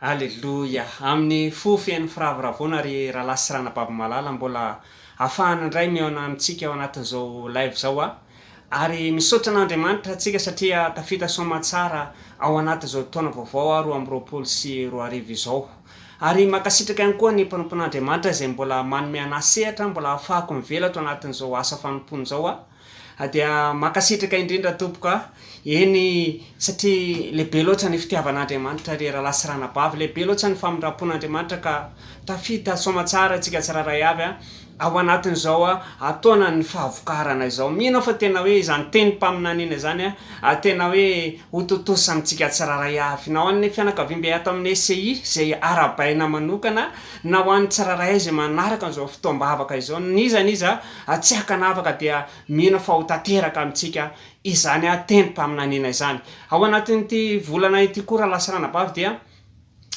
Aleloia! Amin'ny fo feno firavoravoana ry Ralahy sy Ranabavy malala mbola afahana indray mihaona amintsika ao anatin'izao live izao a! Ary misaotra an'Andriamanitra tsika satria tafita soamatsara ao anatin'izao taona vaovao a roa amby roapolo sy roa arivo izao. Ary mankasitraka ihany koa ny mpanompon'Andriamanitra izay mbola manome an'ahy sehatra mbola ahafahako mivela ato anatin'izao asa fanompoana izao a! Dia mankasitraka indrindra tompoko a! Eny satria lehibe loatra ny fitiavan'Andriamanitra ry rahalahy sy ranabavy, lehibe loatra ny famindram-pon'Andriamanitra ka tafita soamatsara isika tsirairay avy a! ao anatin'izao taonan'ny fahavokarana izao. Mino aho fa tena hoe izany tenim-paminaniana izany a! tena hoe ho tontosa amintsika tsirairay avy, na ho an'ny fianakaviam-be ato amin'ny SCI izay arahabaina manokana, na ho an'ny tsirairay izay manaraka an'izao fotoam-bavaka izao, n'iza n'iza. Hatsiakana afaka dia mino fa ho tanteraka amintsika izany tenim-paminaniana izany. Ao anatin'ity volana ity koa raha lasa anabavy dia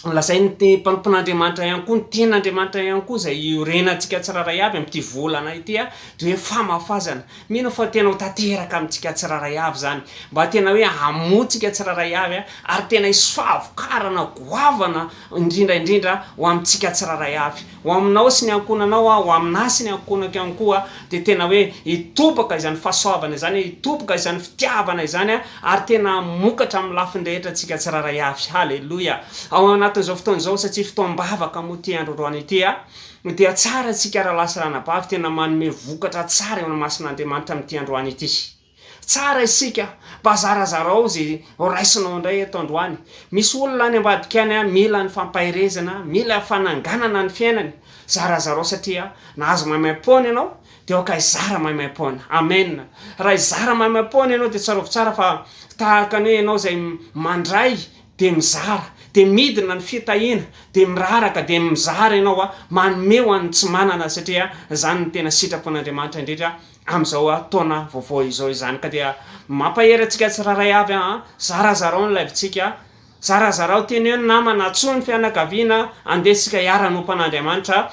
lazain'ny mpanompon'Andriamanitra ihany koa, ny tenin'Andriamanitra ihany koa izay iorenantsika tsirairay avy amin'ity volana ity dia hoe famafazana. Mino aho fa tena ho tanteraka amintsika tsirairay avy izany. Mba tena hoe hamoa antsika tsirairay avy ary tena hisy fahavokarana goavana. indrindra indrindra ho amintsika tsirairay avy, ho aminao sy ny ankohonanao, ho aminà sy ny ankohonako ihany koa, dia tena hoe hitoboka izany fahasoavana izany, hitoboka izany fitiavana izany, ary tena hamokatra amin'ny lafiny rehetra antsika tsirairay avy. Haleloia! Ao anatin'izao fotoana izao, satria fotoam-bavaka moa ity androandroany ity, dia tsara antsika rahalahy sy ranabavy tena manome vokatra tsara eo amin'ny masin'Andriamanitra amin'ity androany ity. Tsara isika mba zarazarao ze horaisinao indray eto androany. Misy olona any ambadika any mila ny fampaherezana, mila fananganana ny fiainany. Zarazarao satria nahazo maimaimpoana ianao de aoka hizara maimaimpoana. Amen. Raha hizara maimaimpoana ianao de tsarovy tsara fa tahaka ny hoe ianao izay mandray de mizara, de midina ny fitahiana, de miraraka, de mizara ianao, manome ho an'ny tsy manana satria izany no tena sitrapon'Andriamanitra indrindra. amin'izao taona vaovao izao izany ka dia mampahery antsika tsirairay avy an! zarazarao ny live-tsika, zarazarao, teneno ny namana, antsoy ny fianakaviana, andeha tsika hiara hanompo an'Andriamanitra,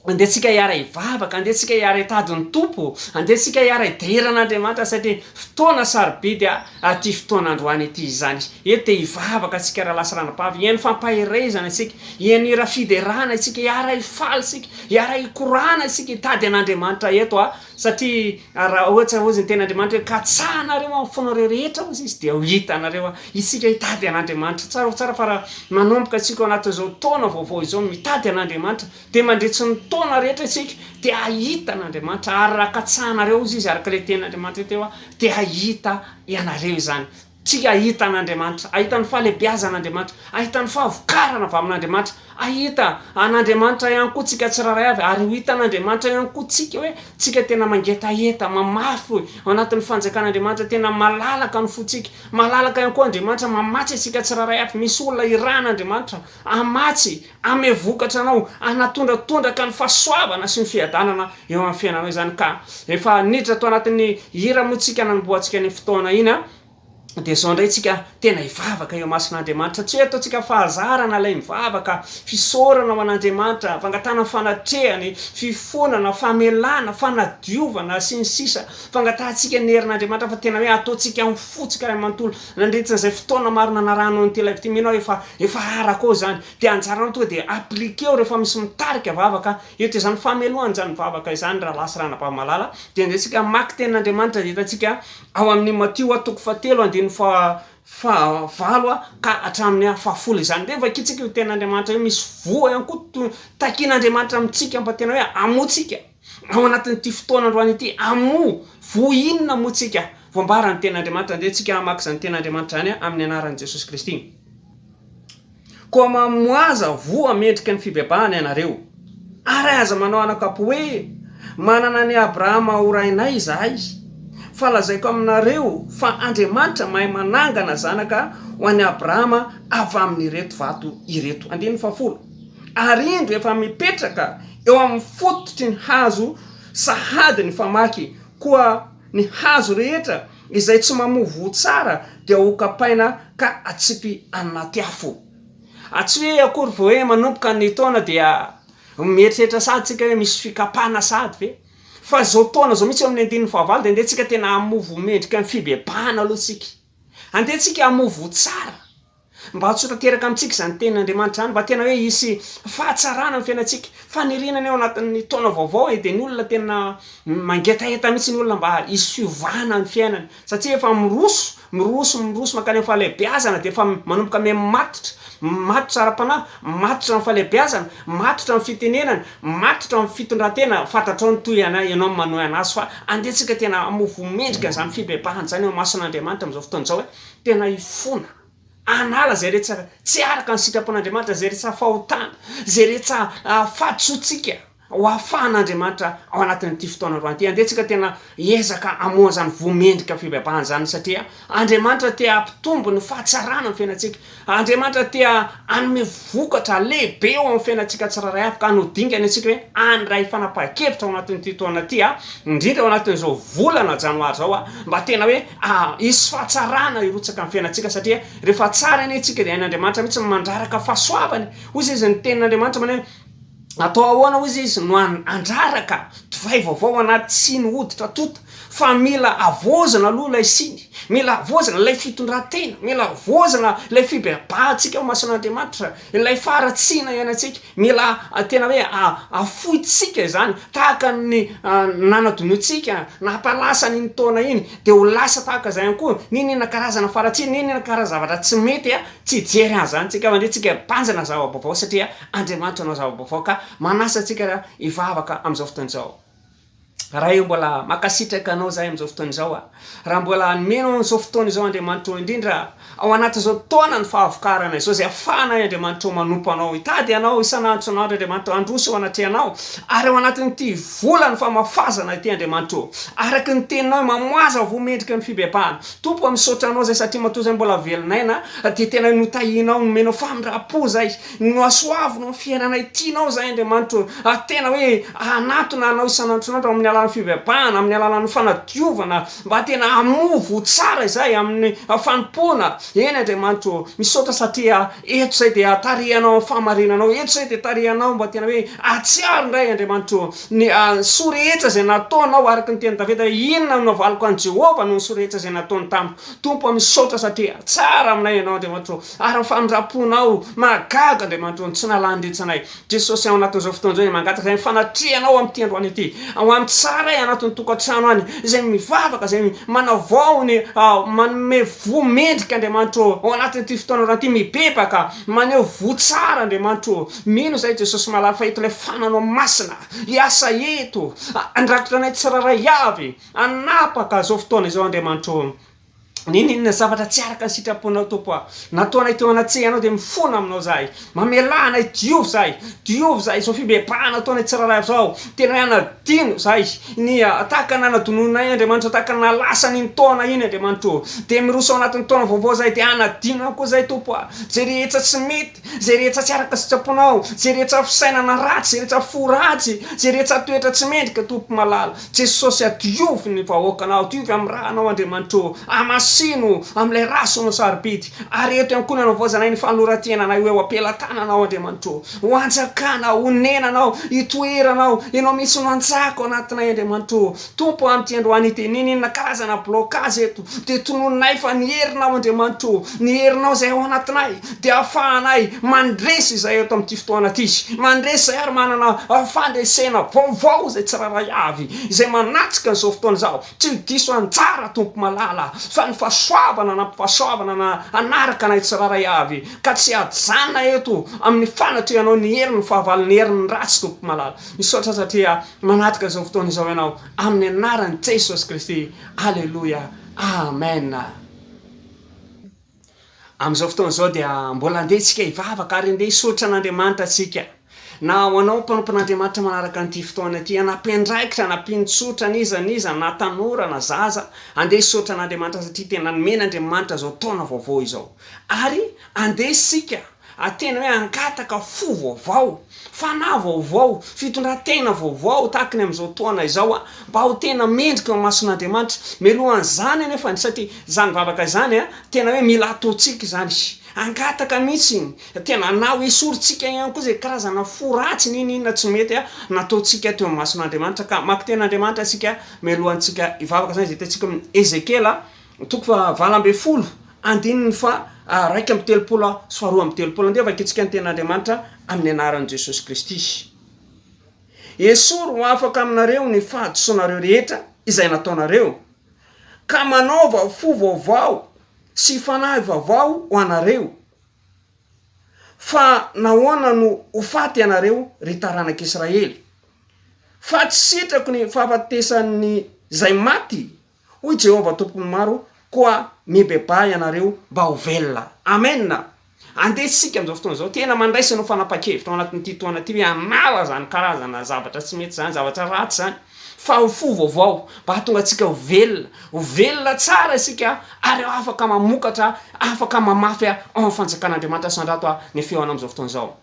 andeha tsika hiara hivavaka, andeha tsika hiara hitady ny Tompo, andeha tsika hiara hidehiran'Andriamanitra satria fotoana sarobidy an! Aty fotoana androany ity izany eto dia hivavaka antsika Ralahy sy Ranabavy hihaino fampaherezana isika, hihaino hira fiderana isika, hiara hifaly isika, hiara hikorana isika, hitady an'Andriamanitra eto a! satria raha ohatra hozy ny tenin'Andriamanitra hoe katsahanareo amin'ny fonareo rehetra hozy Izy dia ho hitanareo a! isika hitady an'Andriamanitra, tsara ho tsara fa raha manomboka isika ao anatin'izao taona vaovao izao mitady an'Andriamanitra Dia mandritry ny taona rehetra isika dia hahita an'Andriamanitra, ary raha katsahanareo, hoy izy, araka ilay tenin'Andriamanitra teo aho, dia hahita ianareo izany. Tsy hahita an'Andriamanitra, hahita ny fahalebiazan'Andriamanitra, hahita ny fahavokarana avy amin'Andriamanitra, hahita an'Andriamanitra ihany koa tsika tsirairay avy, ary ho hitan'Andriamanitra ihany koa tsika hoe tsika tena mangetaheta, mamafy ao anatin'ny fanjakan'Andriamanitra, tena malalaka ny fontsika, malalaka ihany koa Andriamanitra mamatsy antsika tsirairay avy, misy olona irahan'Andriamanitra hamatsy, Hanome vokatra anao, hanatondra tondraka ny fahasoavana sy ny fiadanana eo amin'ny fiainanao izany ka. Efa niditra tao anatin'ny hira moa tsika nanombohantsika iny fotoana iny an! Dia izao indray tsika tena hivavaka eo imason'Andriamanitra. Tsy hoe ataontsika fahazarana ilay mivavaka, fisaorana ho an'Andriamanitra, fangatahana fanatrehany, fifonana, famelana, fanadiovana, sy ny sisa. Fangatahantsika ny herin'Andriamanitra fa tena hoe ataontsika amin'ny fo tsika iray manontolo. Nandritra izay fotoana maro nanarahanao an'ity live ity, mino aho efa efa arako ao izany. Dia anjaranao tonga dia appliquer-o rehefa misy mitarika vavaka eto. Izany famelohana izany vavaka izany Rahalahy sy Ranabavy malala dia andehantsika hamaky Tenin'Andriamanitra dia hitantsika ao amin'ny Matio a, toko fahatelo andininy faha fahavalo ka hatramin'ny a fahafolo izany. Dia vakintsika io Tenin'Andriamanitra io, misy voa ihany koa to takin'Andriamanitra amintsika mba tena hoe hamoa antsika. Ao anatin'ity fotoana androany ity, amoa voa inona moa tsika voambaran'ny Tenin'Andriamanitra? Andeha tsika hamaky izany Tenin'Andriamanitra izany amin'ny anaran'i Jesosy Kristy. Koa mamoaza voa mendrika ny fibebahana ianareo, ary aza manao anakap hoe, Manana an'i Abrahama ho rainay izahay, fa lazaiko aminareo fa Andriamanitra mahay manangana zanaka ho an'i Abrahama avy amin'ireto vato ireto. Andininy fahafolo. ary indro efa mipetraka eo amin'ny fototry ny hazo sahady ny famaky, koa ny hazo rehetra izay tsy mamoa voa tsara dia hokapaina ka atsipy anaty afo. A Tsy hoe akory vao hoe manomboka ny taona dia mieritreritra sahady isika hoe misy fikapana sahady ve? Fa izao taona izao mihitsy eo amin'ny andininy fahavalo dia andeha tsika tena hamoa voa mendrika ny fibebahana aloha tsika. Andeha tsika hamoa voa tsara. Mba ho tanteraka amintsika izany tenin'Andriamanitra izany, mba tena hoe hisy fahatsarana amin'ny fiainantsika, faniriana ny ao anatin'ny taona vaovao e, dia ny olona tena mangetaheta mihitsy ny olona mba hisy fiovana ny fiainany, satria efa miroso, miroso, miroso mankany amin'ny fahalehibeazana, dia efa manomboka mihai-matotra, matotra ara-panahy, matotra amin'ny fahalehibeazana, matotra amin'ny fitenenana, matotra amin'ny fitondran-tena, fantatrao ny toy anay, ianao no manohy an'azy, fa andehantsika tena hamofo mendrika izany fibebahana izany eo imason'Andriamanitra amin'izao fotoana izao e, Tena hifona, hanala izay rehetsa tsy araka ny sitrapon'Andriamanitra, izay rehetsa fahotana, izay rehetsa fahadisoantsika, ho afahan'Andriamanitra ao anatin'ity fotoana androany ity. Andeha tsika tena hiezaka hamoha an'izany voa mendrika fibebahana izany, satria Andriamanitra te hampitombo ny fahatsarana amin'ny fiainantsika. Andriamanitra te hanome vokatra lehibe eo amin'ny fiainantsika tsirairay avy, ka no dingany antsika hoe handray fanapahan-kevitra ao anatin'ity taona ity, indrindra ao anatin'izao volana janoary izao, mba tena hoe Hisy fahatsarana hirotsaka amin'ny fiainantsika satria rehefa tsara anie isika dia hain'Andriamanitra mihitsy ny mandraraka fahasoavany. Hoy izay izy, ny tenin'Andriamanitra maneho hoe, Atao ahoana, hoy izay izy, no handraraka divay vaovao anaty siny hoditra tonta? Fa mila havaozina aloha ilay siny. Mila havaozina ilay fitondran-tena. Mila havaozina ilay fibebahantsika eo imason'Andriamanitra. Ilay faharatsiana ianantsika, mila tena hoe afoitsika izany, tahaka ny nanadinoantsika, nahata lasa an'iny taona iny, dia ho lasa tahaka izay ihany koa, n'inon'inona karazana faharatsiana, n'inon'inona karazana zavatra tsy mety, tsy hijery an'izany tsika fa indray tsika hibanjina zava-baovao, satria Andriamanitra hanao zava-baovao, ka manasa antsika hivavaka amin'izao fotoana izao. Raha eo mbola makasitraka anao zahay amin'izao fotoana izao a! Raha mbola hanome anao an'izao fotoana izao Andriamanitra ô indrindra ao anatin'izao taona ny fahavokarana izao izay afahanay Andriamanitra ô manompo anao, hitady anao isan'andro isan'andro Andriamanitra ô handroso eo anatrehanao ary ao anatin'ity volan'ny famafazana ity Andriamanitra ô araka ny teninao hoe mamoaza voa mendrika ny fibebahana Tompo ô misaotra anao izay satria matoa izay mbola velon'aina dia tena notahianao nomenao famindram-po izay Nohasoaviny ho fiainanay tianao izahay, Andriamanitro, ary tena hoe hanatona Anao isan'androsan'andro amin'ny alalan'ny fivavahana, amin'ny alalan'ny fanadiovana, mba tena hamoa voa tsara izahay amin'ny fanompoana. Eny, Andriamanitro ô, misaotra satria eto izahay dia tarihanao amin'ny fahamarinanao, eto izahay dia tarihanao mba tena hoe hahatsiaro indray, Andriamanitro, ny soa rehetra izay nataonao, araka ny tenin'i Davida hoe, Inona no navaliko an'i Jehovah noho ny soa rehetra izay nataony tamiko? Tompo ô, misaotra satria tsara aminay Ianao, Andriamanitro ô. Ary ny famindram-ponao mahagaga, Andriamanitro, no tsy nalany retsinay. Jesosy, ao anatin'izao fotoana izao dia mangataka izay fanatrehanao amin'ity androany ity, ho an'ny tsaray anatin'ny tokantrano any, izay mivavaka, izay manao vaony, manome voa mendrika, Andriamanitro ô, ao anatin'ity fotoana androany ity, mibebaka, maneho voa tsara, Andriamanitro ô. Mino izahay, Jesosy malala, fa eto ilay fananao masina hiasa eto, handrakotra anay tsirairay avy, hanapaka izao fotoana izao, Andriamanitro ô. N'inon'inona zavatra tsy araka ny sitraponao, Tompo a! Nataonay teo anatsehanao dia mifona aminao izahay. Mamelà anay, diovy izahay, diovy izahay izao fibebahana ataonay tsirairay avy izao. Tena hanadino izahay ny tahaka ny nanadinoinay Andriamanitro, tahaka ny naha lasa an'iny taona iny Andriamanitro. Dia miroso ao anatin'ny taona vaovao izahay, dia hanadino ihany koa izahay Tompo a! Izay rehetra tsy mety. Izay rehetra tsy araka sitraponao, izay rehetra fisainana ratsy, izay rehetra fo ratsy, izay rehetra toetra tsy mendrika, Tompo malala, Jesosy adiovo ny vahoakanao, adiovo amin'ny ra anao Andriamanitra ô, amasino amin'ilay ra sy no sarobidy, ary eto iankohonana ho voazanay ny fanolorantenanay ho eo am-pelatananao Andriamanitra ô, ho anjakana, honenanao, hitoeranao, ianao mihitsy no hanjaka ao anatinay Andriamanitra ô, Tompo amin'ity androany ity, niniana karazana blocage eto, dia tononinay fa ny Herinao Andriamanitro ô, ny Herinao izay ao anatinay, dia ahafahanay mandresy izay eto amin'ity fotoana ity, mandresy izay ary manana fandresena vaovao izay tsirairay avy, izay manatrika an'izao fotoana izao, tsy ho diso anjara Tompo malala, fa ny fahasoavana anampy fahasoavana na hanaraka anay tsirairay avy, ka tsy hajanona eto amin'ny fanatrehanao ny herin'ny fahavalon'ny herin'ny ratsy Tompo malala. Misaotra satria Manatrika izao fotoana izao ianao amin'ny anaran'i Jesosy Kristy. Aleloia. Amen. Amin'izao fotoana izao dia mbola handeha isika hivavaka ary handeha hisaotra an'Andriamanitra isika. Na ho anao mpanompon'Andriamanitra manaraka an'ity fotoana ity, na mpiandraikitra, na mpinotsotra, n'iza n'iza, na tanora, na zaza, handeha hisaotra an'Andriamanitra satria tena nomen'Andriamanitra izao taona vaovao izao. Ary handeha isika A Tena hoe hangataka fo vaovao, fanahy vaovao, fitondran-tena vaovao tahaka ny amin'izao toana izao aho, mba ho tena mendrika eo imason'Andriamanitra. Melohan'izany anefa ny satria izany vavaka izany tena hoe mila ataontsika izany, hangataka mihitsy, tena na ho esorintsika ihany koa izay karazana fo ratsy n'inon'inona tsy mety nataontsika teo imason'Andriamanitra. Ka maki-ten'Andriamanitra isika mialohantsika hivavaka, izany izay hitantsika ao amin'ny Ezekiela Toko faha valo ambin'ny folo, andininy faha raika amby telopolo sy faha roa amby telopolo. Andeha vakintsika ny Tenin'Andriamanitra amin'ny anaran'i Jesosy Kristy. Esory ho afaka aminareo ny fahadisoanareo rehetra izay nataonareo, ka manaova fo vaovao sy fanahy vaovao ho anareo. Fa nahoana no ho faty ianareo, ry taranak'Israely? Fa tsy sitrako ny fahafatesan'izay maty. Hoy Jehovah Tompon'ny maro, Koa mibebaha ianareo mba ho velona. Amena! Andeha isika amin'izao fotoana izao, tena mandraisa anao fanapahan-kevitra ao anatin'ity toana ity hoe hanala izany karazana zavatra tsy mety izany, zavatra ratsy izany, fa ho fo vaovao, mba hahatonga antsika ho velona. Ho velona tsara isika ary afaka mamokatra, afaka mamafy ao amin'ny Fanjakan'Andriamanitra. Sandrato ny feonao amin'izao fotoana izao.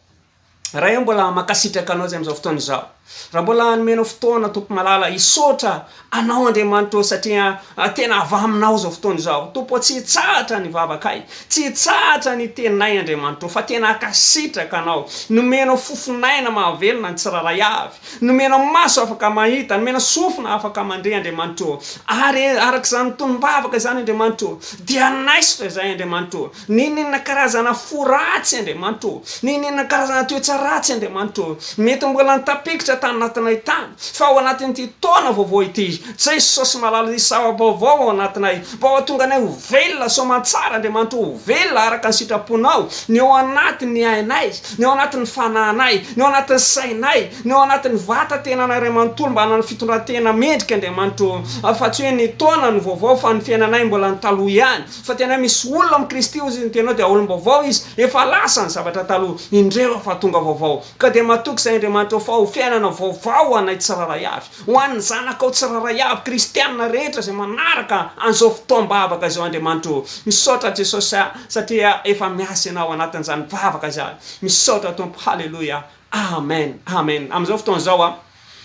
Ray ô mbola mankasitraka anao zay amzao fotoana izao raha mbola nomenao fotoana tompo malala hisaotra anao Andriamanitra ô satria tena avy aminao zao fotoana izao tompo ô tsy hitsahatra ny vavakay tsy hitsahatra ny teninay Andriamanitra ô fa tena ankasitraka anao nomenao fofon'aina mahavelona ny tsirairay avy nomenao maso afaka mahita nomena sofina afaka mandre Andriamanitra ô ary arak'izany tonom-bavaka izany Andriamanitra ô dia anaisotra izay Andriamanitra ô N'inon'inona karazana fo ratsy Andriamanitra ô! N'inon'inona karazana toetra ratsy Andriamanitra ô! Mety mbola nitapikitra tany anatinay tany, fa ao anatin'ity taona vaovao ity, Jesosy malala, hisy zava-baovao ao anatinay, mba hahatonga anay ho velona soamantsara Andriamanitra ô, ho velona araka ny sitraponao, ny ao anatin'ny ainay, ny ao anatin'ny fanahinay, ny ao anatin'ny sainay, ny ao anatin'ny vatan-tenanay iray manontolo mba hanana fitondran-tena mendrika Andriamanitra ô, fa tsy hoe ny taona no vaovao fa ny fiainanay mbola ny taloha ihany. Fa tena misy olona amin'i Kristy, hoy izy, ny tenao dia aolom-baovao izy, efa lasa ny zavatra taloha, indreo efa tonga vaovao. Ka dia matoky izay Andriamanitra fa ho fiainana vaovao ho anay tsirairay avy, ho an'ny zanakao tsirairay avy, kristiana rehetra izay manaraka an'izao fotoam-bavaka izao Andriamanitra o. Misaotra Jesosy aho satria efa miasa Ianao ao anatin'izany vavaka izany. Misaotra Tompo. Haleloia. Amen. Amen. Amin'izao fotoana izao,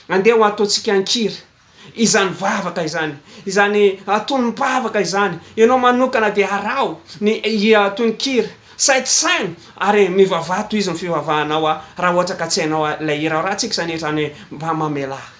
andeha ho ataontsika an-kiry. izany vavaka izany, izany atonim-pavaka izany, ianao manokana dia araho ny tononkira, saintosaino ary mivavaha tohizo ny fivavahanao raha ohatra ka tsy hainao ilay hira ao, raha tsy izany hetra any hoe mba mamelà ahy.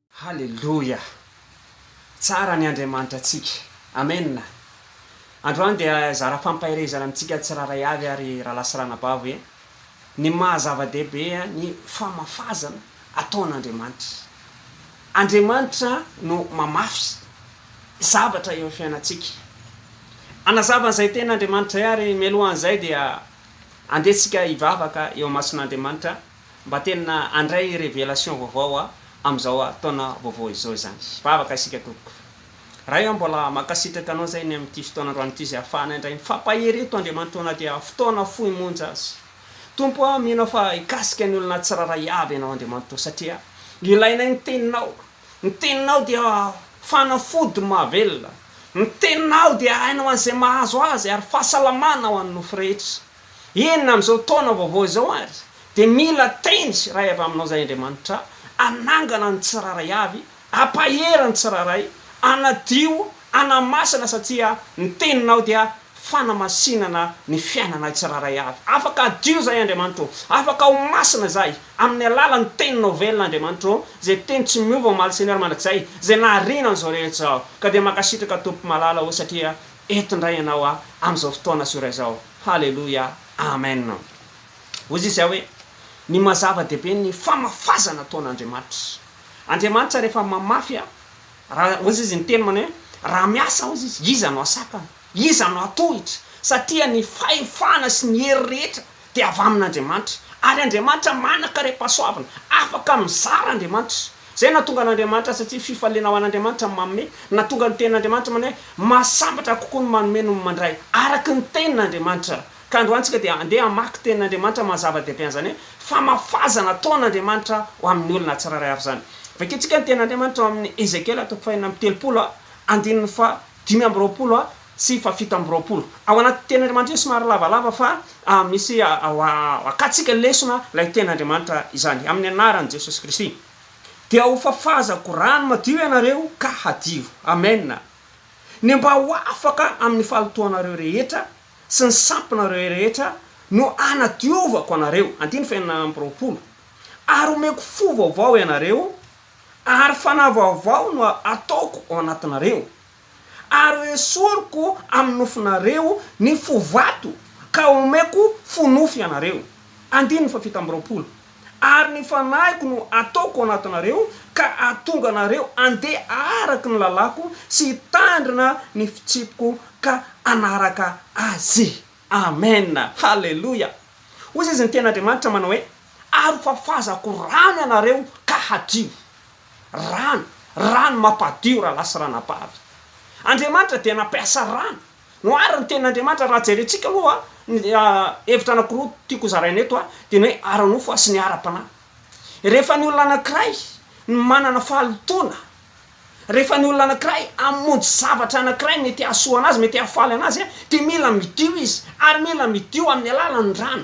Haleloia! Tsara ny Andriamanitra antsika. Amen! Androany dia hizara fampaherezana amintsika tsirairay avy ary rahalahy sy ranabavy hoe ny maha zava-dehibe ny famafazana ataon'Andriamanitra. Andriamanitra no mamafy zavatra eo amin'ny fiainantsika. Hanazava an'izay tena Andriamanitra izay ary mialohan'izay dia andeha tsika hivavaka eo imason'Andriamanitra Mba tena handray révélation vaovao aho amin'izao taona vaovao izao izany. Vavaka isika tompoko. Ray aho mbola mankasitraka anao izay ny amin'ity fotoana androany ity izay ahafahana indray mifampahery eto Andriamanitra na dia fotoana fohy monja aza. Tompo a, mino aho fa hikasika ny olona tsirairay avy Ianao Andriamanitra o, satria ilainay ny Teninao. Ny Teninao dia fanafody mahavelona. Ny Teninao dia aina ho an'izay mahazo azy ary fahasalamana ho an'ny nofo rehetra. Eny, amin'izao taona vaovao izao àry, dia mila teny sy ray avy aminao izahay, Andriamanitra, hanangana ny tsirairay avy, hampahery ny tsirairay, hanadio, hanamasina, satria ny Teninao dia fanamasinana ny fiainanay tsirairay avy. Afaka hadio izahay, Andriamanitra ô! Afaka ho masina izahay, amin'ny alalan'ny Teninao velona, Andriamanitra ô, izay Teny tsy miova omaly sy ny alina mandrakizay, izay nahariana an'izao rehetra izao. Ka dia mankasitraka, Tompo malala ô, satria eto indray ianao a amin'izao fotoana sy ora izao. Haleloia. Amen. Hoy Izahay hoe, Ny maha-zava-dehibe ny famafazana ataon'Andriamanitra. Andriamanitra rehefa mamafy a, raha, hoy Izy, ny Teniny manao hoe, Raha miasa, hoy Izy, iza no hahasakana? Iza no hahatohitra? Satria ny fahefana sy ny hery rehetra dia avy amin'Andriamanitra, ary Andriamanitra manan-karem-pahasoavana, afaka mizara Andriamanitra. Izay nahatonga an'Andriamanitra satria fifaliana ho an'Andriamanitra ny manome, nahatonga ny tenin'Andriamanitra manao hoe, Mahasambatra kokoa ny manome noho ny mandray, araka ny tenin'Andriamanitra. Ka androany isika dia handeha hamaky tenin'Andriamanitra maha-zava-dehibe an'izany hoe, famafazana ataon'Andriamanitra ho amin'ny olona tsirairay avy izany. Vakintsika ny tenin'Andriamanitra ao amin'ny Ezekiela toko fahenina amby telopolo, andininy faha Dimy amby roapolo a, tsy fa fito amby roapolo. Ao anaty teny Andriamanitra io somary lavalava fa misy akatsika lesona ilay teny Andriamanitra izany amin'ny anaran'i Jesosy Kristy. Dia ho fafazako rano madio ianareo ka hadio. Amena. Ny mba ho afaka amin'ny fahalotoanareo rehetra sy ny sampinareo rehetra no anadiovako anareo, andininy fahenina amby roapolo, ary omeko fo vaovao ianareo, ary fanahy vaovao no ataoko ao anatinareo, ary ho esoriko amin'ny nofonareo ny fo vato, ka homeko fo nofo ianareo. Andininy fahafito amby roapolo. Ary ny fanahiko no ataoko ao anatinareo, ka hahatonga anareo handeha araka ny lalàko sy hitandrina ny fitsipiko ka hanaraka azy. Amen! Haleloia! Hoy izy ny Tenin'Andriamanitra manao hoe, Ary fafazako rano ianareo ka hadio. Rano, rano mampadio rahalahy sy ranabavy. Andriamanitra dia nampiasa rano no ary ny Tenin'Andriamanitra raha jerentsika aloha ny hevitra anankiroa tiako hozaraina eto dia ny hoe ara-nofo sy ny ara-panahy. Rehefa ny olona anankiray no manana fahalotoana Rehefa ny olona anankiray hamonjy zavatra anankiray mety hahasoa anazy, mety hahafaly anazy, dia mila midio izy, ary mila midio amin'ny alalan'ny rano.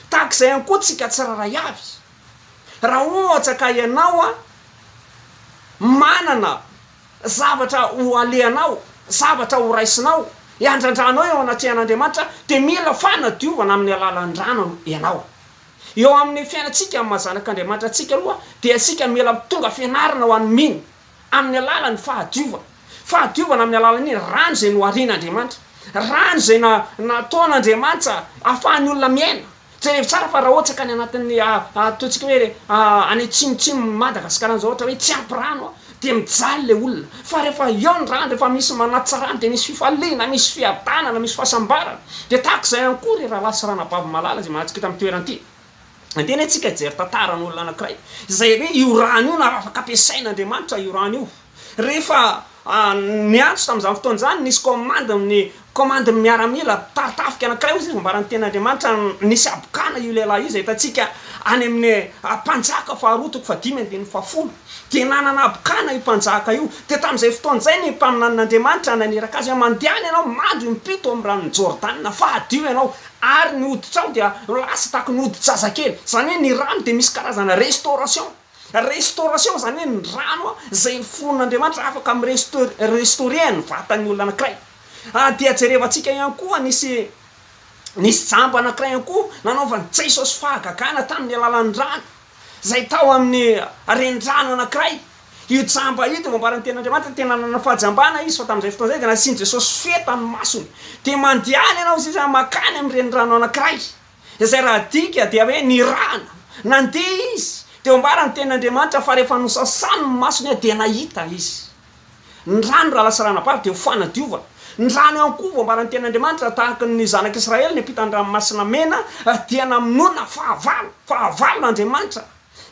Tahaka izay ihany koa tsika tsirairay avy. Raha ohatra ka ianao manana zavatra ho alehanao, zavatra ho raisinao, hiandrandranao eo anatrehan'Andriamanitra, dia mila fanadiovana amin'ny alalan'ny rano ianao. Eo amin'ny fiainantsika amin'ny maha zanak'Andriamanitra antsika aloha dia isika mila mitondra fianarana ho an'ny mino amin'ny alalan'ny fahadiovana. Fahadiovana amin'ny alalan'ny rano izay noharian'Andriamanitra. Rano izay na nataon'Andriamanitsa ahafahan'ny olona miaina. Jereo tsara fa raha ohatsaka any anatin'ny ataontsika hoe any atsimotsimon'i Madagasikara any izao ohatra hoe tsy ampy rano Dia mijaly ilay olona. Fa rehefa eo ny rano, rehefa misy manatsara dia misy fifaliana, misy fiadanana, misy fahasambarana. Dia tahaka izay ihany koa ry rahalahy sy ranabavy malala izay manatsikaiky ity amin'ny toerana ity. Andeha anie isika hijery tantaran'olona anankiray izay hoe io rano io na afaka ampiasain'Andriamanitra io rano io. Rehefa niantso tamin'izany fotoana izany, nisy kaomandy ny Komandin'ny miaramila mpitari tafika anankiray hoy izay nambaran'ny teny Andriamanitra nisy habokana io lehilahy io izay hitantsika any amin'ny Mpanjaka faharoa toko fahadimy andininy fahafolo. Dia nanana habokana io mpanjaka io. Dia tamin'izay fotoana izay ny mpaminanin'Andriamanitra naniraka azy hoe, Mandehana ianao mandry impito amin'ny ranon'i Jordana, fa hadio ianao, ary ny hoditrao dia ho lasa tahaka ny hodi-jazakely. Izany hoe ny rano dia misy karazana restauration. Restauration izany hoe ny rano izay noforonin'Andriamanitra afaka mi restaurer ny vatan'ny olona anankiray. Dia jerevantsika ihany koa nisy nisy jamba anankiray ihany koa nanaovan'i Jesosy fahagagana tamin'ny alalan'ny rano izay tao amin'ny renirano anankiray. Io jamba io dia voambaran'ny tenin'Andriamanitra tena nanana fahajambana izy fa tamin'izay fotoana izay dia nasian'i Jesosy feta ny masony. Dia mandehana ianao izay zany mankany amin'ny renirano anankiray izay raha adika dia hoe nirahana, nandeha izy teo ambaran'ny tenin'Andriamanitra fa rehefa nosasany ny masony dia nahita izy ny rano raha lasa rana-bary dia ho fanadiovana ny rano ihany koa voambaran'ny tenin'Andriamanitra tahaka ny zanak'Israely niampita ny ranomasina mena dia namonona fahavalo, fahavalon'Andriamanitra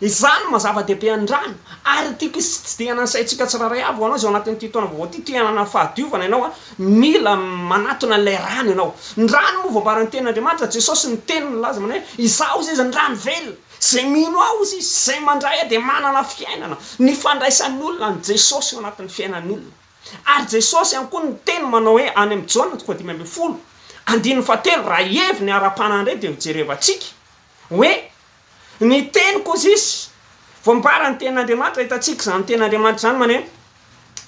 Izany no maha zava-dehibe an'irano ary tiako hitsidihanan'ny saintsika tsirairay avy ho anao izay ao anatin'ity taona vaovao ity te hanana fahadiovana ianao a, mila manatona ilay rano ianao. Ny rano moa voambaran'ny tenin'Andriamanitra, Jesosy ny teniny nilaza manao hoe izaho izay izy ny rano velona, izay mino aho hozy izy, izay mandray ahy dia manana fiainana. Ny fandraisan'ny olona an'i Jesosy ao anatin'ny fiainan'ny olona. Ary Jesosy ihany koa no teny manao hoe any amin'ny Jaona toko faha dimy ambin'ny folo andininy faha telo raha heviny ara-panahy indray dia ho jerevantsika Hoe, ny teny Kosis, voambaran'ny tenin'Andriamanitra, hitantsika izany tenin'Andriamanitra izany maneho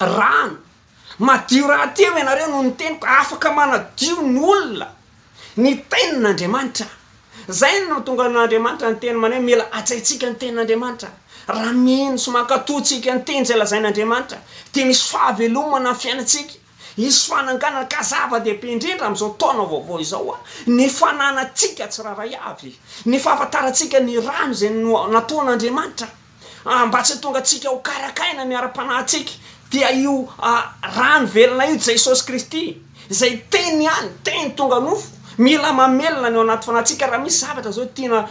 rano, madio rahateo ianareo noho ny teniko, afaka manadio ny olona ny tenin'Andriamanitra, izay no nahatonga an'Andriamanitra niteny maneho mila hajaintsika ny tenin'Andriamanitra, raha mino sy mankatò tsika ny teny izay lazain'Andriamanitra dia misy fahavelomana amin'ny fiainantsika. Hisy fananganana ka zava-dehibe indrindra amin'izao taona vaovao izao ny fananantsika tsirairay avy ny fahafantarantsika ny rano izay nataon'Andriamanitra mba tsy hahatonga antsika ho karakaina ny ara-panahintsika dia io rano velona io Jesosy Kristy izay teny ihany teny tonga nofo Mila mamelona ny ao anaty fanahintsika raha misy zavatra izao tiana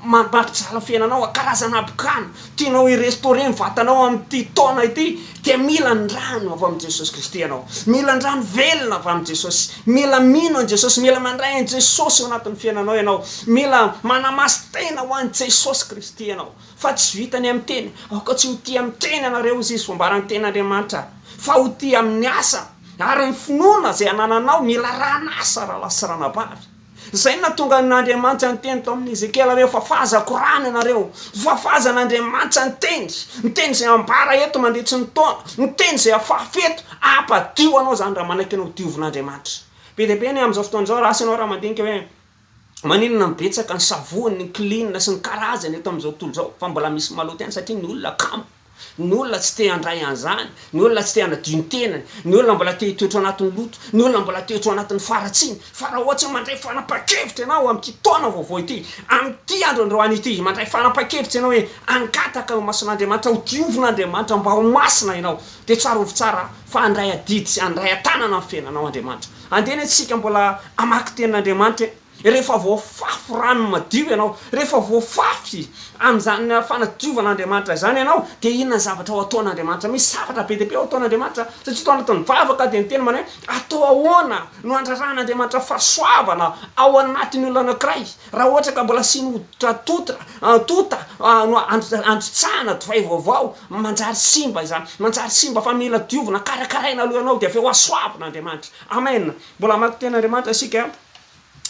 mampijaly fiainanao, karazana habokana tianao hi-restaurer ny vatanao amin'ity taona ity dia mila ny rano avy amin'i Jesosy Kristy ianao, mila ny rano velona avy amin'i Jesosy, mila mino an'i Jesosy, mila mandray an'i Jesosy ao anatin'ny fiainanao ianao, mila manamasin-tena ho an'i Jesosy Kristy ianao fa tsy vita ny amin'ny teny, aoka tsy ho tia amin'ny teny ianareo hoy izy, fa homba raha ny tenin'Andriamanitra fa ho tia amin'ny asa. Ary ny finoana izay anananao mila ran'asa rahalahy sy ranabavy. Izay no nahatonga an'Andriamanitra niteny tao amin'i Ezekiela hoe fafazako rano ianareo. Fafazan'Andriamanitra ny teny. Ny teny izay ambara eto mandritry ny taona. Ny teny izay afafy eto. Ampadio anao izany raha manaiky ny hodiovin'Andriamanitra. Be dia be ny amin'izao fotoana izao raha asy ianao raha mandinika hoe. Maninona no betsaka ny savony, ny klin sy ny karazany eto amin'izao tontolo izao fa mbola misy maloto ihany satria ny olona kamo, ny olona tsy te handray an'izany, ny olona tsy te hanadio ny tenany, ny olona mbola te hitoetra ao anatin'ny loto, ny olona mbola te ho ao anatin'ny faharatsiana. Fa raha ohatra hoe mandray fanapahan-kevitra ianao amin'ity taona vaovao ity, amin'ity andro androany ity, mandray fanapahan-kevitra ianao hoe hangataka eo imason'Andriamanitra, hodiovin'Andriamanitra mba ho masina ianao, dia tsarovy tsara fa handray adidy sy handray an-tanana ny fiainanao Andriamanitra. Andeha anie tsika mbola hamaky tenin'Andriamanitra e! Rehefa voafafy rano madio ianao, rehefa voafafy amin'izany fanadiovan'Andriamanitra izany ianao, dia inona ny zavatra ho ataon'Andriamanitra? Misy zavatra be dia be ho ataon'Andriamanitra, satria tao anatin'ny vavaka dia niteny manahy hoe, atao ahoana no handraran'Andriamanitra fahasoavana ao anatin'ny olona anankiray? Raha ohatra ka mbola asiany hoditra totra, tonta, no androtsahana divay vaovao, manjary simba izany, manjary simba fa mila diovina, karakaraina aloha ianao dia avy eo asoavina Andriamanitra. Amen! Mbola hamaky Teny Andriamanitra isika,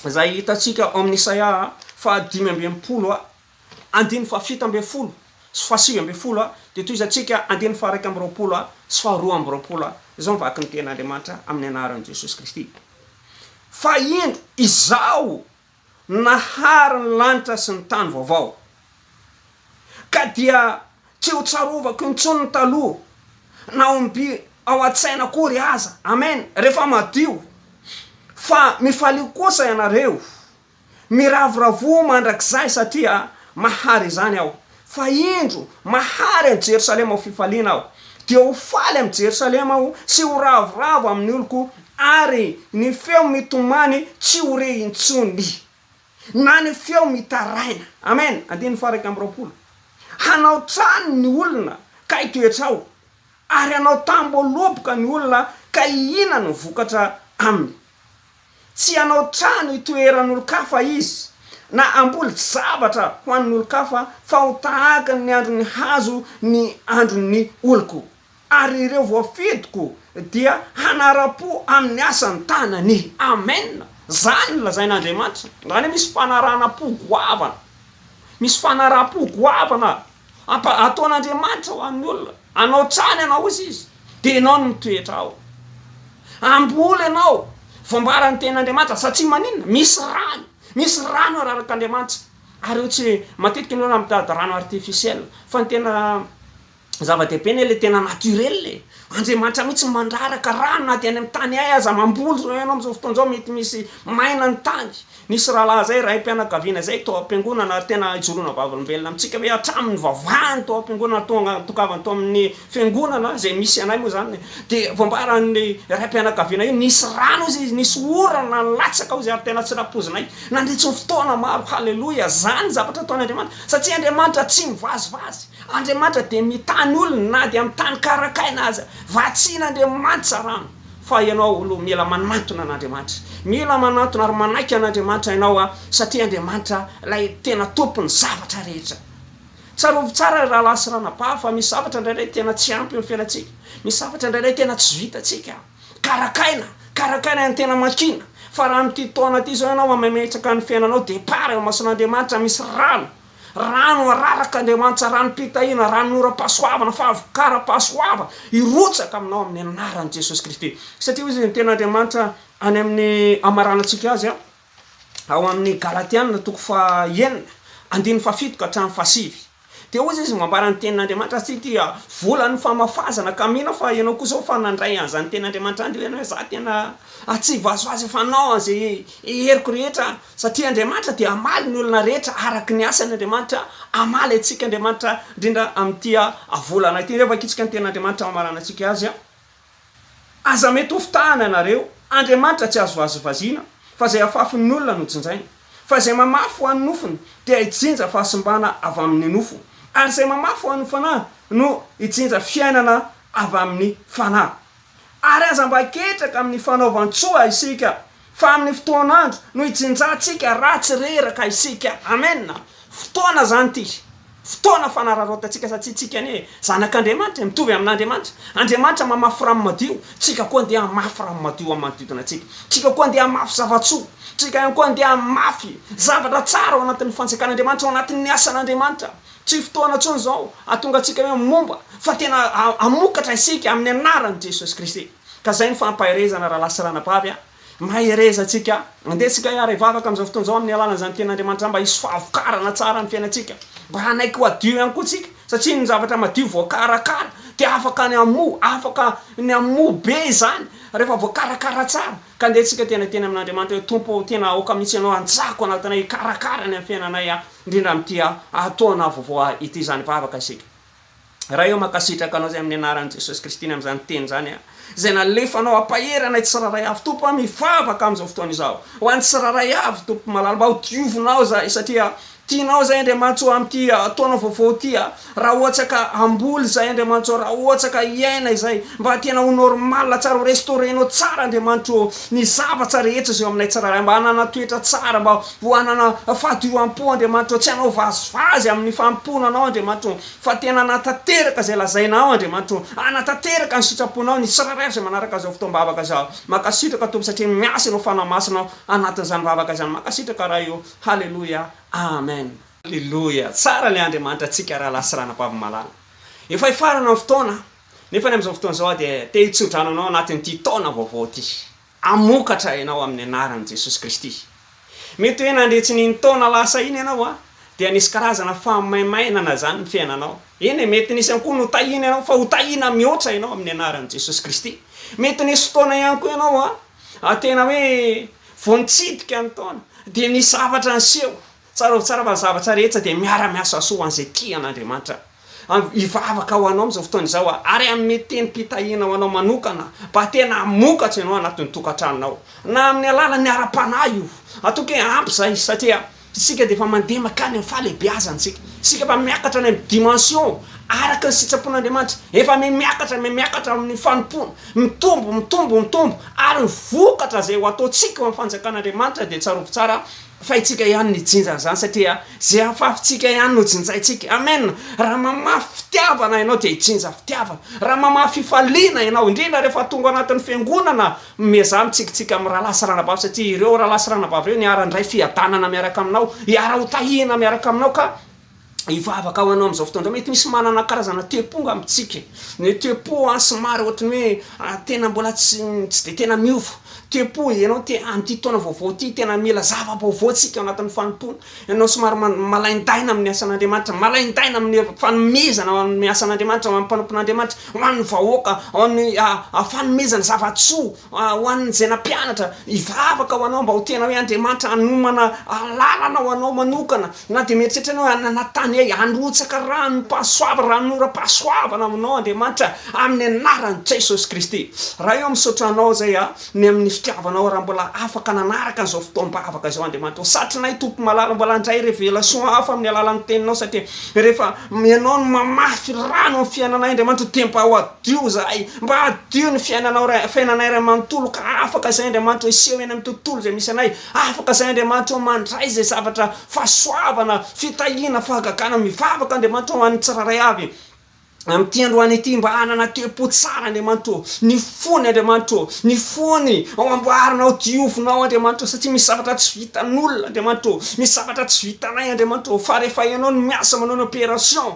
izay hitantsika ao amin'ny Isaia fahadimy amby enimpolo, andininy fahafito ambin'ny folo sy fahasivy ambin'ny folo, dia tohizantsika andininy faharaika amby roapolo sy faharoa amby roapolo, izao ny vakin'ny Teny Andriamanitra amin'ny anaran'i Jesosy Kristy, Fa indro, izaho Nahary ny lanitra sy ny tany vaovao. Ka dia tsy ho tsarovako intsony ny taloha, na omby ao an-tsaina akory aza. Amen. Rehefa madio. Fa mifalio kosa ianareo. Miravoravoa mandrakizay satria mahary izany aho. Fa indro, mahary an'i Jerosalema ho fifaliana aho, dia ho faly amin'i Jerosalema aho sy ho ravoravo amin'ny oloko, ary ny feo mitomany tsy ho re intsony, na ny feo mitaraina. Amen! Andininy faha-iraika amby roapolo. Hanao trano ny olona ka hitoetra ao, ary hanao tamboho loboka ny olona ka hihinana vokatra aminy. Tsy hanao trano hitoeran'olon-kafa izy, na hamboly zavatra ho an'olon-kafa, fa ho tahaka ny andron'ny hazo ny andron'ny oloko, ary ireo voafidiko dia hanara-po amin'ny asan'ny tanany. Amen! Izany no lazain'Andriamanitra. Izany hoe misy fanarahana-po goavana. Misy fanaraham-po goavana. Ampa, ataon'Andriamanitra ho an'ny olona. Anao hatrany ianao hoy izy, dia ianao no mitoetra ao. Hamboly ianao, voambara ny tenin'Andriamanitra, satria maninona? Misy rano, misy rano ararak'Andriamanitra. Ary io tsy, matetika ny olona mitady rano artificiel, fa ny tena zava-dehibe anie ilay tena naturel e! Andriamanitra mihitsy no mandraraka rano na dia any amin'ny tany ahy aza, mamboly izao ianao amin'izao fotoana izao, mety misy maina ny tany, Nisy rahalahy izay, raim-pianakaviana izay, tao am-piangonana, ary tena hijoroana vavolombelona amintsika hoe hatramin'ny nivavahany tao am-piangonana, tonga nitokavany tao amin'ny fiangonana izay misy anay moa izany, dia voambaran'ny raim-pianakaviana hoe nisy rano hozy izy, nisy orana nilatsaka hozy, ary tena tsy nampoizinay nandritry ny fotoana maro. Haleloia! Izany ny zavatra ataon'Andriamanitra, satria Andriamanitra tsy mivazivazy. Andriamanitra dia mitany olony na dia amin'ny tany karakaina aza. Vatsian'Andriamanitra rano. Fa ianao aloha mila manantona an'Andriamanitra. Mila manantona ary manaiky an'Andriamanitra ianao a! satria Andriamanitra ilay tena tompon'ny zavatra rehetra. Tsarovy tsara ry rahalahy sy ranabavy fa misy zavatra indraindray tena tsy ampy ny fiainantsika. Misy zavatra indraindray tena tsy vitantsika. Karakaina, karakaina ny tena makiana. Fa raha amin'ity taona ity izao ianao mametraka ny fiainanao départ eo imason'Andriamanitra misy rano Rano araraka Andriamanitsa, ranom-pitahiana, ranonoram-pahasoavana, fahavokaram-pahasoavana hirotsaka aminao amin'ny anaran'i Jesosy Kristy. Satria hoy izy ny tenin'Andriamanitra any amin'ny hamaranantsika azy ao amin'ny Galatiana toko faha enina andininy faha fito ka hatramin'ny faha sivy dia hoy izy mambara ny tenin'Andriamanitra azy ity dia volan'ny famafazana ka mino aho fa ianao kosa hoy fa nandray an'izany tenin'Andriamanitra izany dia hoy ianao hoe za tena aho tsy vazovazo efa nanao an'izay heriko rehetra Satria Andriamanitra dia hamaly ny olona rehetra araka ny asany, Andriamanitra hamaly antsika, Andriamanitra indrindra amin'ity volana ity. Rehefa ankitsika ny tenin'Andriamanitra hamarana antsika Azy, Aza mety ho fitahana ianareo, Andriamanitra tsy azo vazivaziana, fa izay afafin'ny olona no jinjaina. Fa izay mamafy ho an'ny nofony dia hijinja fahasimbana avy amin'ny nofo, ary izay mamafy ho an'ny fanahy no hijinja fiainana avy amin'ny fanahy. Ary aza mba ketraka amin'ny fanaovan-tsoa isika, fa amin'ny fotoan'andro no hijinjantsika raha tsy reraka isika. Amena. Fotoana izany ity. Fotoana fanararaotantsika satria tsika anie zanak'Andriamanitra e, mitovy amin'Andriamanitra. Andriamanitra mamafy rano madio, tsika koa andeha hamafy rano madio amin'ny manodidina antsika. Tsika koa andeha hamafy zava-tsoa. Tsika ihany koa andeha hamafy zavatra tsara ao anatin'ny fanjakan'Andriamanitra, ao anatin'ny asan'Andriamanitra. Tsy fotoana intsony izao hahatonga antsika hoe momba, fa tena hamokatra isika amin'ny anaran'i Jesosy Kristy. Ka izay no fampaherezana rahalahy sy ranabavy a! Mahereza antsika, andeha tsika hiara hivavaka amin'izao fotoana izao amin'ny alalan'izany Tenin'Andriamanitra mba hisy fahavokarana tsara amin'ny fiainantsika, mba hanaiky ho hadio ihany koa tsika, satria ny zavatra madio voakarakara dia afaka ny hamoa, afaka ny hamoa be izany rehefa voakarakara tsara. Ka ndeha tsika tena teny amin'Andriamanitra hoe Tompo ô tena aoka mihitsy ianao hanjaka ao anatinay hikarakara ny amin'ny fiainanay aho indrindra amin'ity taona vaovao ity izany vavaka isika. Ray ô mankasitraka anao izay amin'ny anaran'i Jesosy Kristy ny amin'izany teny izany aho izay nalefanao hampahery anay tsirairay avy Tompo aho mivavaka amin'izao fotoana izao ho an'ny tsirairay avy Tompo malala mba ho diovinao izahay satria Tianao izay Andriamanitso amin'ity taona vaovao ity a! Raha ohatra ka hamboly izay Andriamanitso ô, raha ohatra ka hiaina izay, mba tena ho normal tsara, ho restaurer-nao tsara Andriamanitro ô, ny zavatra rehetra izay eo aminay tsirairay, mba hanana toetra tsara, mba ho hanana fahadiovam-po Andriamanitro ô, tsy hanao vazivazy amin'ny fanompoana Anao Andriamanitro ô, fa tena hanatanteraka izay lazainao Andriamanitro ô, hanatanteraka ny sitraponao ny tsirairay izay manaraka izao fotoam-bavaka izao, mankasitraka Tompo satria miasa Ianao Fanahy Masina ao anatin'izany vavaka izany, mankasitraka Ray ô. Haleloia Amen. Aleloia! Tsara ilay Andriamanitra antsika rahalahy sy ranabavy malala. Efa hifarana ny fotoana, nefa ny amin'izao fotoana izao aho dia te hitsodrano anao anatin'ity taona vaovao ity. Hamokatra ianao amin'ny anaran'i Jesosy Kristy. Mety hoe nandre tsy nino taona lasa iny ianao an, dia nisy karazana famaimainana izany ny fiainanao. Eny e, mety nisy ihany koa notahiana ianao, fa ho tahiana mihoatra ianao amin'ny anaran'i Jesosy Kristy. Mety nisy fotoana ihany koa ianao an, ary tena hoe vao nitsidika ny taona dia nisy zavatra niseho, tsarovy tsara fa ny zavatra rehetra dia miara miasa soa ho an'izay tia an'Andriamanitra, hivavaka ho anao amin'izao fotoana izao aho ary hanome tenim-pitahiana ho anao manokana mba tena hamokatra ianao anatin'ny tokantranonao na amin'ny alalan'ny ara-panahy io, matoky hoe ampy izay satria Isika dia efa mandeha mankany amin'ny fahalehibeazantsika. Isika efa miakatra any amin'ny dimension araka ny sitrapon'Andriamanitra. Efa mihamiakatra, mihamiakatra amin'ny fanompoana. Mitombo, mitombo, mitombo. Ary ny vokatra izay ho ataontsika eo amin'ny fanjakan'Andriamanitra dia tsarovy tsara fa itsika ihany no hijinja an'izany satria izay afafintsika ihany no jinjaintsika. Amen! Raha mamafy fitiavana ianao dia hijinja fitiavana. Raha mamafy fifaliana ianao, indrindra rehefa tonga ao anatin'ny fiangonana, Miezaha mitsikitsiky amin'ny rahalahy sy ranabavy satria ireo rahalahy sy ranabavy ireo no hiara-handray fiadanana miaraka aminao, hiara-hotahina miaraka aminao ka hivavaka ho anao amin'izao fotoana izao. Mety misy manana karazana te-po nga amintsika, ny te-po somary ohatran'ny hoe tena mbola tsy tsy dia tena miova, te-po ianao te amin'ity taona vaovao ity tena mila zava-baovao isika ao anatin'ny fanompoana, Ianao somary malaindaina amin'ny asan'Andriamanitra, malaindaina amin'ny fanomezana ho an'ny asan'Andriamanitra, ho an'ny mpanompon'Andriamanitra, ho an'ny vahoaka, ho an'ny fanomezana zava-tsoa ho an'izay nampianatra hivavaka ho anao mba ho tena hoe Andriamanitra hanomana alalana ho anao manokana, na dia mieritreritra ianao hoe hanatany ahy, harotsaka ranom-pahasoavana, ranonoram-pahasoavana aminao Andriamanitra, amin'ny anaran'i Jesosy Kristy. Ray ô, misaotra Anao izay a, Ny amin'ny fitiavanao raha mbola afaka nanaraka an'izao fotoam-bavaka izao Andriamanitra ô. Satrinay Tompo malala mbola handray révélation hafa amin'ny alalan'ny teninao satria rehefa ianao no mamafy rano amin'ny fiainanay Andriamanitra ô dia mba hadio izahay, mba hadio ny fiainanao ray, fiainanay ray manontolo ka afaka izay Andriamanitra ô hiseho eny amin'ny tontolo izay misy anay, afaka izay Andriamanitra ô mandray izay zavatra fahasoavana, fitahiana, fahagagana, mivavaka Andriamanitra ô ho an'ny tsirairay avy. Amin'ity androany ity, mba hanana tempo tsara Andriamanitro ô, ny fony Andriamanitro ô, ny fony ao amboarina ao, diovinao Andriamanitro ô, satria misy zavatra tsy vitan'olona Andriamanitro ô, misy zavatra tsy vitanay Andriamanitro ô, fa rehefa Ianao no miasa manao ny opération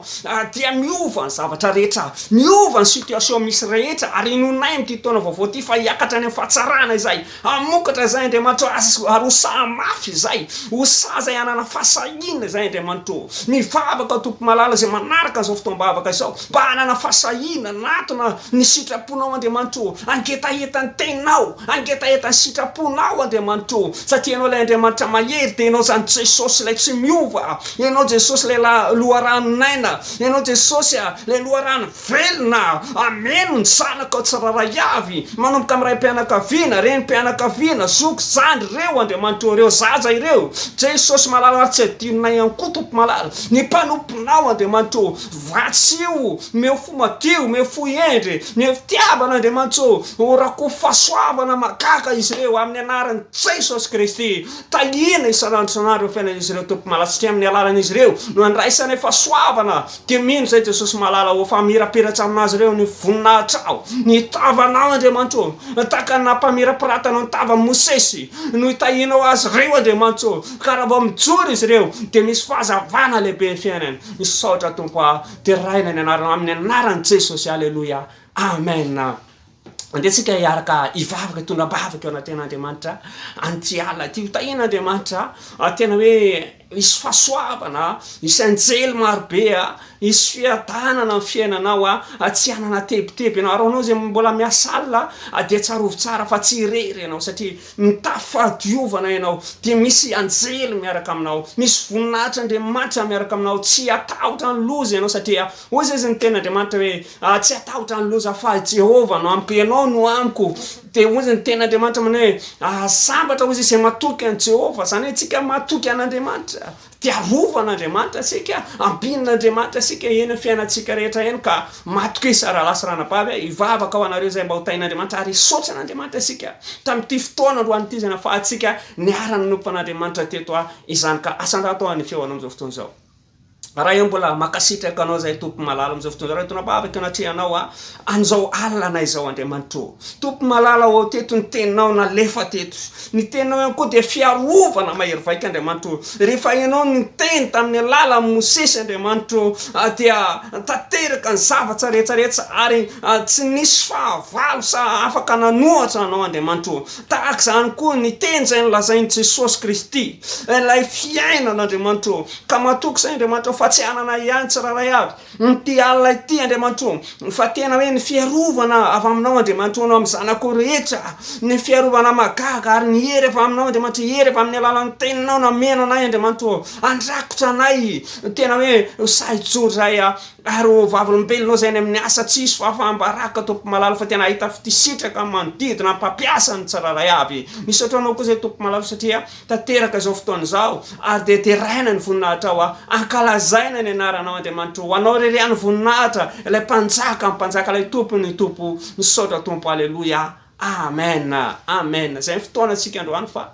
dia miova ny zavatra rehetra, miova ny situation misy rehetra, ary inoanay amin'ity taona vaovao ity fa hiakatra any amin'ny fahatsarana izay. Hamokatra izay Andriamanitro azy ary ho saha mafy izay, ho saha izay hanana fahasahiana izay Andriamanitro ô. Mivavaka Tompo malala izay manaraka an'izao fotoam-bavaka izao mba hanana fahasahiana hanatona ny sitraponao Andriamanitro ô. Hangetaheta ny teninao, hangetaheta ny sitraponao Andriamanitro ô, satria Ianao ilay Andriamanitra mahery dia Ianao izany Jesosy ilay tsy miova, Ianao Jesosy ilay la- loharanon'aina, Ianao Jesosy a, ilay loharano. Velona, hameno ny zanakao tsirairay avy, manomboka amin'ny raim-pianakaviana, renim-pianakaviana, zoky, zandry, ireo andriamanitrao ireo, zaza ireo. Jesosy malala ary tsy adinonay ihany koa Tompo malala, ny mpanomponao Andriamanitra ô, vatsio, omeo fo madio, omeo fo hendry, omeo fitiavana Andriamanitra ô, horakofy fahasoavana mahagaga izy ireo amin'ny anaran'i Jesosy Kristy. Tahiana isan'andro isan'andro ny fiainan'izy ireo Tompo malala satria amin'ny alalan'izy ireo no andraisanay fahasoavana, Dia mino izay Jesosy malala Ho famirapiratra amin'azy ireo ny voninahitrao Ny tavanao Andriamanitro ô Tahaka ny nampamirapiratanao ny tavan'i Mosesy No itahianao azy ireo Andriamanitro ô Ka raha vao mijoro izy ireo Dia misy fahazavana lehibe ny fiainany Misaotra Tompo a Deraina ny anarana Amin'ny anaran'i Jesosy Aleloia Amen. Andeha tsika hiaraka hivavaka hitondra am-bavaka eo anaten'Andriamanitra an'ity alina ity. Ho tahian'Andriamanitra tena hoe hisy fahasoavana, hisy anjely marobe, hisy fiadanana amin'ny fiainanao, tsy hanana tebiteby ianao. Ary ho anao izay mbola miasa alina dia tsarovy tsara fa tsy irery ianao satria mitafy fahadiovana ianao dia misy anjely miaraka aminao, misy voninahitr'Andriamanitra miaraka aminao. Tsy hatahotra ny loza ianao satria hoy izay izy ny tenin'Andriamanitra hoe Tsy hatahotra ny loza fa i Jehovah no amiko, ianao no amiko. Dia hoy izy, ny tenin' Andriamanitra manao hoe, Sambatra hoy izy izay matoky an'i Jehovah. Izany hoe isika matoky an' Andriamanitra dia arovan' Andriamanitra isika, ampian' Andriamanitra isika eny amin'ny fiainantsika rehetra eny ka matokisa rahalahy sy ranabavy a! Hivavaka ho anareo izay mba ho tahin' Andriamanitra ary hisaotra an' Andriamanitra isika tamin'ity fotoana androany ity izay nahafahantsika niara-nanompo an' Andriamanitra teto izany ka. Asa andahy atao ny feo anao amin'izao fotoana izao. Raha eo mbola makasitraka anao zay Tompo malala amizao fotoana zao tonabaviko anatrehanao a anizao alina izao Andriamanitro Tompo malala ô teto ny teninao nalefa teto ny teninao ihany koa dia fiarovana mahery vaika Andriamanitro rehefa ianao no niteny tamin'ny alala Mosesy Andriamanitro dia tanteraka ny zavatra rehetra rehetra ary tsy nisy fahavalo sa afaka nanohatra anao Andriamanitro tahaka izany koa ny teny izay nolazain'i Jesosy Kristy ilay fiainana Andriamanitro Ka matoky izay Andriamanitra fa tsy hanana ahy ihany tsirairay avy ity alina ity Andriamanitro ô, fa tena hoe ny fiarovana avy aminao Andriamanitro ho anao amin'ny zanako rehetra, ny fiarovana mahagaga ary ny hery avy aminao Andriamanitro, hery avy amin'ny alalan'ny teninao nameno anay Andriamanitro ô, handrakotra anay tena hoe ho sahy hijoro izahay ary ho vavolombelonao izay any amin'ny asa tsy hisy fahafahambaraka Tompo malala fa tena hahita fitisitraka ny manodidina ny mpampiasa ny tsirairay avy, misaotra anao koa izay Tompo malala satria tanteraka izao fotoana izao, ary dia deraina ny voninahitrao aho, ankalazaina ny anaranao Andriamanitro, ho anao irery ihany ny voninahitra, ilay mpanjakan'ny mpanjaka, ilay tompon'ny tompo, misaotra Tompo, Aleloia, Amen, Amen, izay ny fotoanantsika androany fa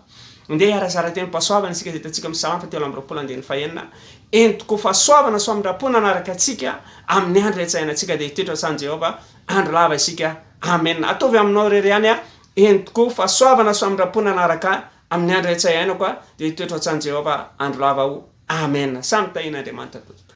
ndeha hiara-hizara teny pasoavana isika izay hitantsika amin'ny Salamo fahatelo amby roapolo andininy fahenina, entiko fahasoavana soa amindram-po nanaraka antsika amin'ny andro hiantsahanantsika dia hitoetra sahanin'i Jehovah andro lava isika, Amen, ataovy aminao irery ihany aho, Eny tokoa, fahasoavana sy famindram-pona hanaraka amin'ny andro etsy iainako aho, dia hitoetra ao an-tsanin'i Jehovah andro lava aho. Amena. Samy tahian'Andriamanitra tokoa.